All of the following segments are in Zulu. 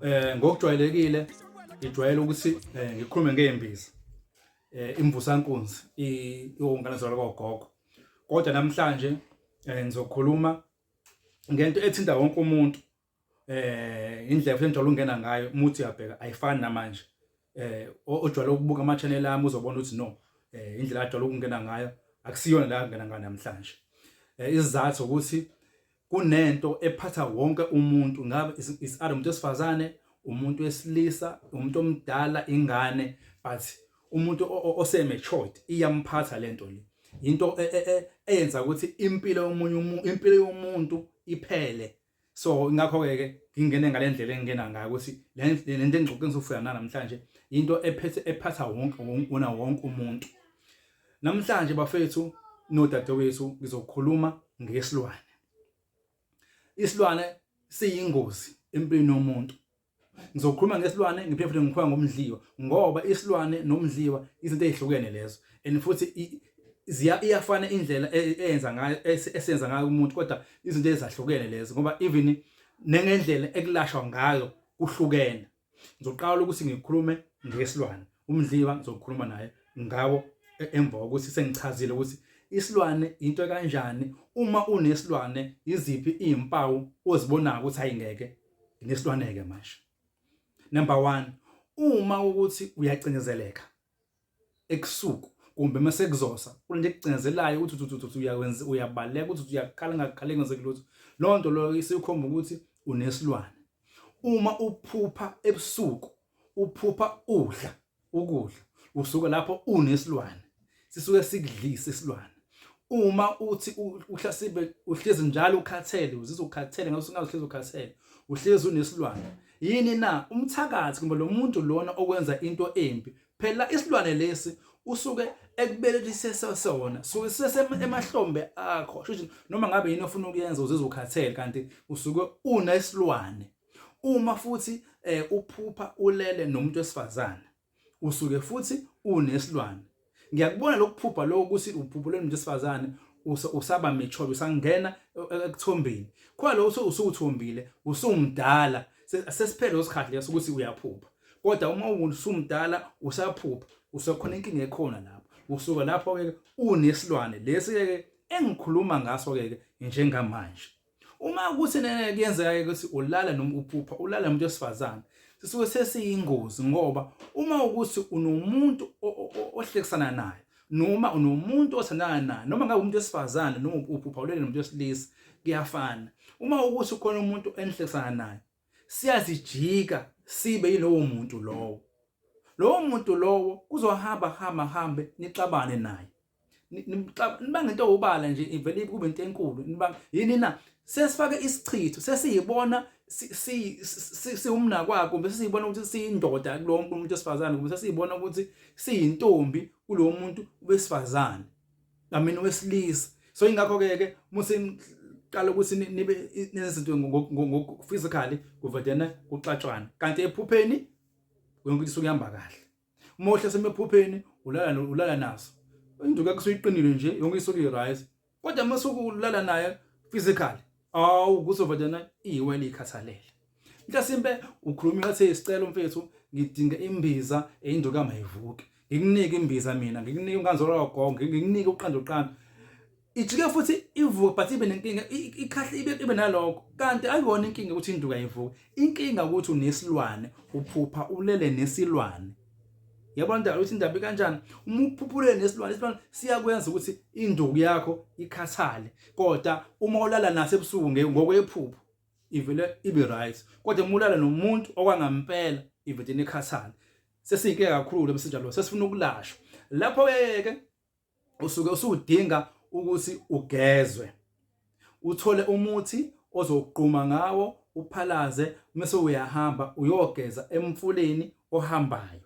eh ngokujwayelekile ngijwayele ukuthi eh, ngikhulume ngeembiza eh imvusankunzi iwongane zalo kogogo kodwa namhlanje eh, ngizokhuluma ngento ethinta wonke umuntu eh indlela futhi njalo ungena ngayo umuthi uyabheka ayifani namanje eh ojwayele ukubuka ama channel ami uzobona ukuthi no eh indlela ajwayele ukungena ngayo akusiyona la ngena ngayo namhlanje eh isizathu ukuthi kunento ephatha wonke umuntu ngabe is are umuntu esifazane umuntu wesilisa umuntu omdala ingane but umuntu ose matured iyamphatha lento le into e, e, e, eyenza ukuthi impilo yomunye umuntu impilo yomuntu iphele so ingakho-ke ke ngingene ngale ndlela engingena ngayo ukuthi le nto engixoxe ngizofika nanamhlanje yinto ephethe ephatha wonke wona wonke umuntu namhlanje bafethu nodadewethu ngizokhuluma ngesilwane isilwane siyingozi empilweni yomuntu ngizokhuluma ngesilwane ngiphinde futhi ngikhuluma ngomdliwa ngoba isilwane nomdliwa izinto ezihlukene lezo and futhi ziya iyafana indlela e, eyenza ngayo esenza ngayo umuntu kodwa izinto ezahlukene lezo ngoba even nengendlela ekulashwa ngayo kuhlukene ngizoqala ukuthi ngikhulume ngesilwane umdliwa ngizokhuluma naye ngawo e, emva kokuthi sengichazile ukuthi isilwane into kanjani uma unesilwane iziphi izimpawu ozibonayo ukuthi ayingeke nginesilwaneke manje number 1 uma ukuthi uyacindezeleka ekusuku kumbe uma sekuzosa kunento ekucinezelayo ukuthi uthi uyawenza uyabaleka ukuthi uyaqala ngaqala ngenzeki lutho loo nto loyo isikhomba ukuthi unesilwane uma uphupha ebusuku uphupha udla ukudla usuke lapho unesilwane sisuke sikudlisa isilwane uma uthi uhlasibe uhlezi njalo ukhathele uzizwa ukhathele ngabe usungazi uhlezi ukhathele uhlezi unesilwane yini na umthakathi kumbe lo muntu lona okwenza into embi phela isilwane lesi usuke ekubelelise sona suke sisemahlombe akho shuthi noma ngabe yini ofuna ukuyenza uzizwa ukhathele kanti usuke unesilwane uma futhi eh, uphupha ulele nomuntu wesifazane usuke futhi unesilwane ngiyakubona lokuphupha lokho ukuthi uphupha lomuntu wesifazane usaba mature usangena e, e, ekuthombeni khona lo usuthombile usumdala sesiphele isikhathi leso ukuthi uyaphupha kodwa uma usumdala usaphupha usekhona inkinga ekhona lapho usuka lapho ke unesilwane lesi ke engikhuluma ngaso ke njengamanje Uma kuthi nene kuyenzeka ukuthi ulala noma uphupha ulala umuntu wesifazane sisuke sesiyingozi ngoba uma ukuthi unomuntu ohlekisana naye noma unomuntu othandana naye noma ngabe umuntu wesifazane noma uphupha ulele nomuntu wesilisa kuyafana uma ukuthi ukhona umuntu enihlekisana naye siyazijika sibe yilowo muntu lowo lowo muntu lowo kuzohamba hamba hambe nixabane naye nibanga into obala nje ivele kube into enkulu nibanga yini na sesifake isichitho sesiyibona siwumna kwakho kumbe sesiyibona ukuthi siyindoda kulo wonke umuntu wesifazane kumbe sesiyibona ukuthi siyintombi kulo muntu wesifazane amina wesilisa so ingakho-ke ke musiqala ukuthi nibe nezinto ngokuphysically kuvedena kuxatshwana kanti ephupheni yonke into isuke ihamba kahle uma uhlaselwe ephupheni ulala ulala naso induku yakho soyiqinile nje yonke isuke irise kodwa uma sokulala naye physically awu kuzovadana iwe likhathalele mhlasimpe ukhuluma ngathi isicelo mfethu ngidinga imbiza eyinduku kamayivuke ngikunike imbiza mina ngikunike unganzolo wagonge ngikunike uqanda uqanda ijike futhi ivuke but ibe nenkinga ikhahle ibe ibe naloko kanti ayibona inkinga ukuthi induka ivuke inkinga ukuthi unesilwane uphupha ulele nesilwane yabona indaba ukuthi indaba kanjani uma uphuphule nesilwane isilwane siyakwenza ukuthi induku yakho ikhathale kodwa uma ulala naso ebusuku ngokwephupho ivele ibe right kodwa uma ulala nomuntu okwangampela ivele ikhathale sesiyinkinga kakhulu emsinjalo sesifuna ukulashwa lapho yeke usuke usudinga ukuthi ugezwe uthole umuthi ozogquma ngawo uphalaze mase uyahamba uyogeza emfuleni ohambayo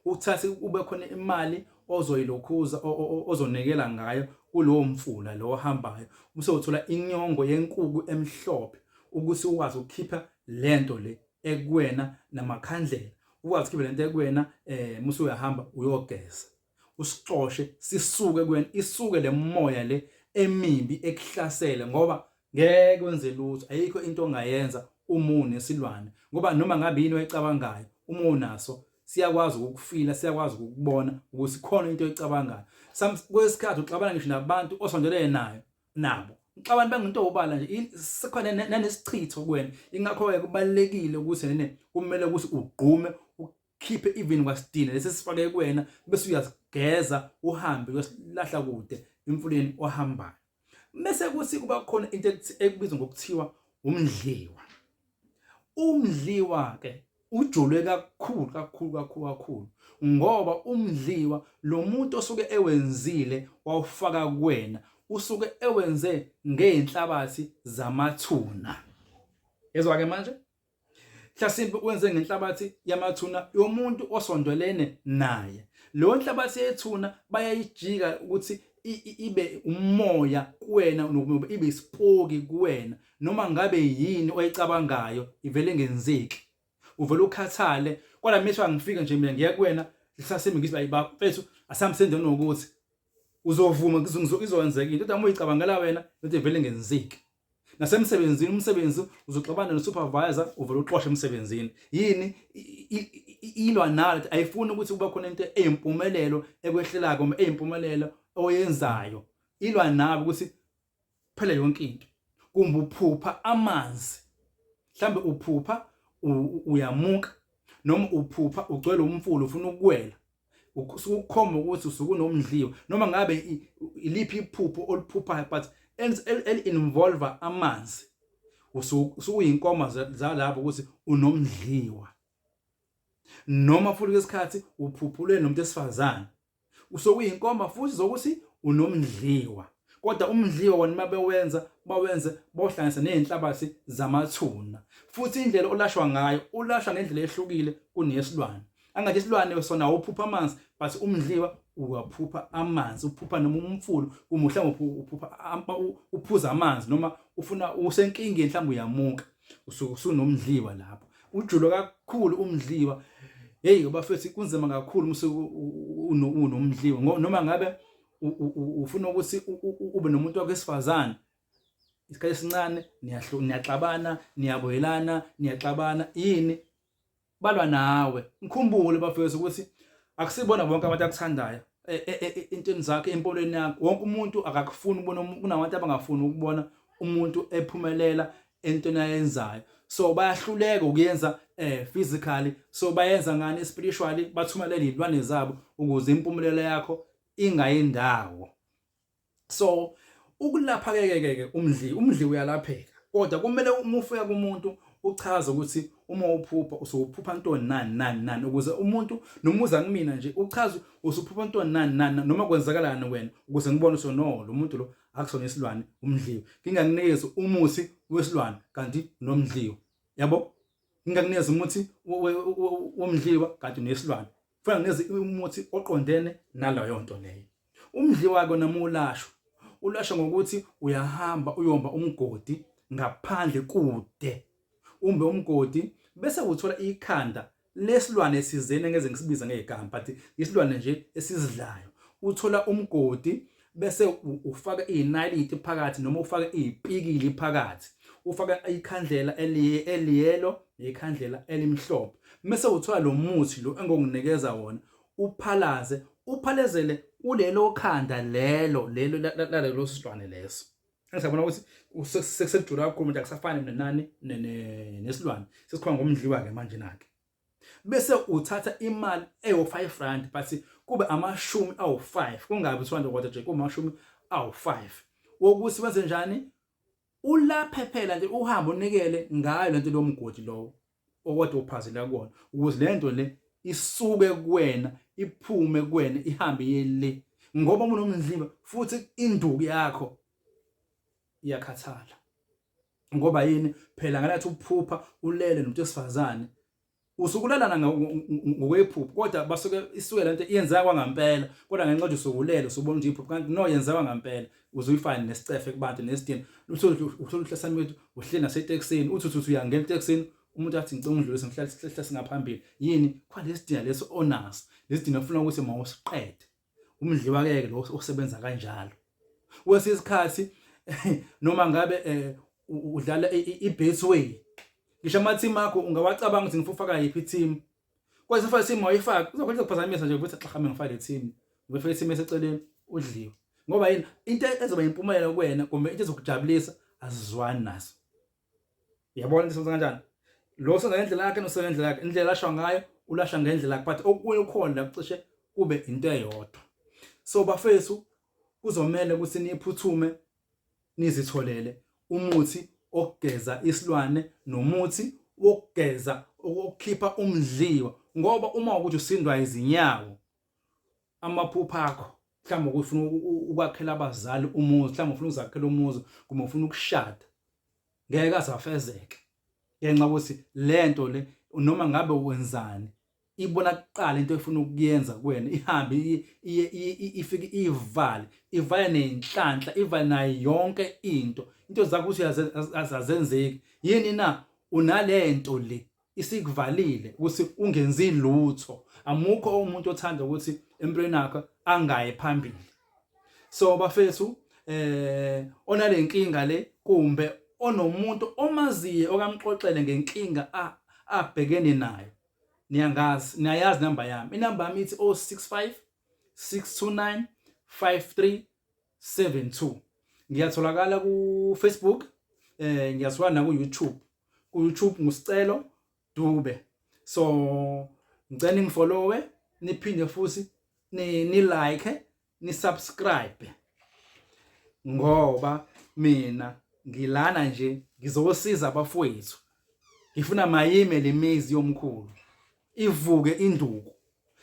uthathe kube khona imali ozoyilokhuza ozonikela ngayo kulowo mfula lo ohambayo bese uthola inyongo yenkuku emhlophe ukuthi ukwazi ukukhipha lento le ekuwena namakhandlela ukwazi ukukhipha lento ekuwena eh musu uyahamba uyogeza usixoshe sisuke kuwena isuke lemoya le emibi ekuhlasele ngoba ngeke wenze lutho ayikho into ongayenza uma unesilwane ngoba noma ngabe yini oyicabangayo uma unaso siyakwazi ukufila siyakwazi ukubona ukuthi khona into oyicabangayo kwesikhathi uxabana ngisho nabantu osondelene nayo nabo uxabana bangento obala nje sekhona nanesichitho kuwena ingakho ke kubalekile ukuthi nene kumele ukuthi ugqume khiphe even kwasidina lesi sifake kuwena bese uyazigeza uhambe uyosilahla kude emfuleni ohambayo bese kuthi kuba khona into ekubizwa ngokuthiwa umdliwa umdliwa ke ujolwe kakhulu kakhulu kakhulu kakhulu ngoba umdliwa lo muntu osuke ewenzile wawufaka kuwena usuke ewenze ngeenhlabathi zamathuna ezwa ke manje mhlasimpe wenze ngenhlabathi yamathuna yomuntu osondelene naye leyo nhlabathi yethuna bayayijika ukuthi ibe umoya kuwena nokuba ibe isipoki kuwena noma ngabe yini oyicabangayo ivele ngenzeki uvele ukhathale kwala mehlo angifika nje mina ngiya kuwena lisasimi ngithi bayi baba mfethu asamsenze nokuthi uzovuma izowenzeka into kodwa uma uyicabangela wena into ivele ngenzeki nasemsebenzini umsebenzi uzoxabana nosupervisor uvele uxoshe emsebenzini yini ilwa nalo ayifuni ukuthi kuba khona into eyimpumelelo ekwehlelayo noma eyimpumelelo oyenzayo ilwa nabo ukuthi phela yonke into kumbe uphupha amanzi mhlambe uphupha uyamuka noma uphupha ugcwele umfula ufuna ukuwela ukukhomba ukuthi usuke unomdliwa noma ngabe iliphi iphupho oliphuphayo but eli-involve amanzi usuyinkomo zalapho ukuthi unomdliwa noma futhi kwesikhathi uphuphulwe nomuntu esifazane usokuyinkomba futhi zokuthi unomdliwa kodwa umdliwa wona uma bewenza bawenze bawuhlanganise nezinhlabathi zamathuna futhi indlela olashwa ngayo ulashwa ngendlela ehlukile kuneyesilwane angathi isilwane sona awuphupha amanzi but umdliwa uyaphupha amanzi uphupha noma umfulu kumuhle ngophupha uphuza amanzi noma ufuna usenkingeni mhlawumbe uyamuka usuke usunomdliwa lapho ujulo kakhulu umdliwa hey bafethi kunzima kakhulu musuku unomdliwa noma ngabe ufuna ukuthi ube nomuntu wakho esifazane isikhathi esincane niyaxabana niyaboyelana niyaxabana yini balwa nawe ngikhumbule bafethu ukuthi akusibona bonke abantu akuthandayo e, e, e, entweni zakhe empolweni yakho wonke umuntu akakufuni ukubona kunabantu abangafuni ukubona umuntu ephumelela entweni ayenzayo so bayahluleka ukuyenza eh physically so bayenza ngani spiritually bathumelela izilwane zabo ukuze impumelelo yakho ingayindawo so ukulapha ke ke umdli umdli uyalapheka kodwa kumele uma ufika kumuntu uchaze ukuthi uma uphupha usuphupha ntoni nani nani nani ukuze umuntu noma uza kumina nje uchaze usuphupha ntoni nani nani noma kwenzakalani wena ukuze ngibone ukuthi no lo muntu lo akusona isilwane umdliwe ngingakunikeza umuthi wesilwane kanti nomdliwe yabo ngingakunikeza umuthi womdliwa kanti nesilwane kufanele nginikeze umuthi oqondene nalayo nto leyo umdliwa kona mulashwa ulashwa ngokuthi uyahamba uyomba umgodi ngaphandle kude umbe umgodi bese uthola ikhanda lesilwane sizene ngeze ngisibiza ngegama but isilwane nje esizidlayo uthola umgodi bese ufaka izinaliti phakathi noma ufaka izipikili phakathi ufaka ikhandlela eliye eliyelo nekhandlela elimhlophe mase uthola lo muthi lo engokunikeza wona uphalaze uphalezele kulelo khanda lelo lelo lalelo silwane leso engisabona ukuthi sekujula kakhulu manje akusafani nenani nesilwane sesikhona ngomdliwa ke manje nake bese uthatha imali eyo-5 rand but kube amashumi awu-5 kungabi 200 kwathi nje kumashumi awu-5 wokuthi wenze njani ulaphe phela nje uhambe unikele ngayo lento lomgodi lowo okade uphazela kuwona ukuze lento le isuke kuwena iphume kuwena ihambe yele ngoba unomndliva futhi induku yakho iyakhathala ngoba yini phela ngalathi ukuphupha ulele nomuntu wesifazane usukulalana ngokwephupho kodwa basuke isuke lento iyenzeka kwangampela kodwa ngenxa ukuthi usukulele usubona ukuthi iphupho kanti no yenzeka ngampela uzuyifana nesicefe kubantu nesidini utholuhlasamile ukuthi uhleli naseteksini uthi uthi uyangena eteksini umuntu athi ngicela ungidlulise ngihlale sihlale singaphambili yini khona lesidina leso onaso lesidina ufuna ukuthi mawusiqede umdliwakeke lo osebenza kanjalo kwesinye isikhathi noma ngabe eh, udlala i-base way ngisho ama-team akho ungawacabanga ukuthi ngifuna ufaka yiphi i-team kwesinye isikhathi i-team wayifaki uzokhona ukuphazamisa nje ukuthi xa hambe ngifake le team ngifake i-team eseceleni udliwe ngoba yini into ezoba yimpumelelo kuwena kumbe into ezokujabulisa azizwani naso Yabona isenza kanjani? Lo senza ngendlela yakhe nosenza ngendlela yakhe. Indlela ashwa ngayo ulasha ngendlela yakhe but okunye ukhona la kucishe kube into eyodwa. So bafethu kuzomela ukuthi niphuthume nizitholele umuthi okugeza isilwane nomuthi wokugeza ukukhipha umdliwa ngoba uma ukuthi usindwa izinyawo amaphupha akho mhlawumbe ukufuna ukwakhela abazali umuzi mhlawumbe ufuna uzakhela umuzi kumbe ufuna ukushada ngeke azafezeke ngenxa ukuthi lento le noma ngabe wenzani ibona kuqala into efuna ukuyenza kuwena ihambe ifike ivale ivale nenhlanhla ivale nayo yonke into into zakho ukuthi azenzeki yini na unalento le isikuvalile ukuthi ungenzi lutho amukho umuntu othanda ukuthi empilweni yakho angaye phambili so bafethu eh onalenkinga le kumbe onomuntu omaziye okamxoxele ngenkinga abhekene nayo niyangazi niyayazi namba yami inamba yami ithi 065 629 53 72 ngiyatholakala ku Facebook eh ngiyatholakala na ku YouTube ku YouTube ngusicelo Dube so ngicela ningifollowe niphinde futhi ni, ni like ni subscribe ngoba mina ngilana nje ngizosiza abafowethu ngifuna mayime lemizi yomkhulu ivuke induku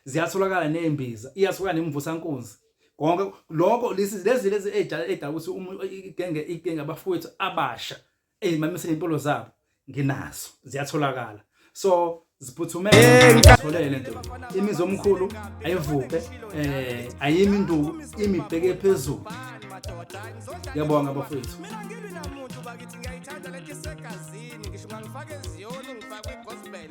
ziyatholakala nezimbiza iyasuka nemvusankunzi konke lokho lezi lezi lezi edala edala ukuthi uma igenge igenge abafowethu abasha ezimamisela impilo zabo nginazo ziyatholakala so ziphuthume ngitholele lento imizi omkhulu ayivuke eh ayimi induku imibheke phezulu ngiyabonga bafowethu mina ngilwi namuntu bakithi ngiyayithanda lento isegazini ngisho ngangifake eziyoni ngifake i-gospel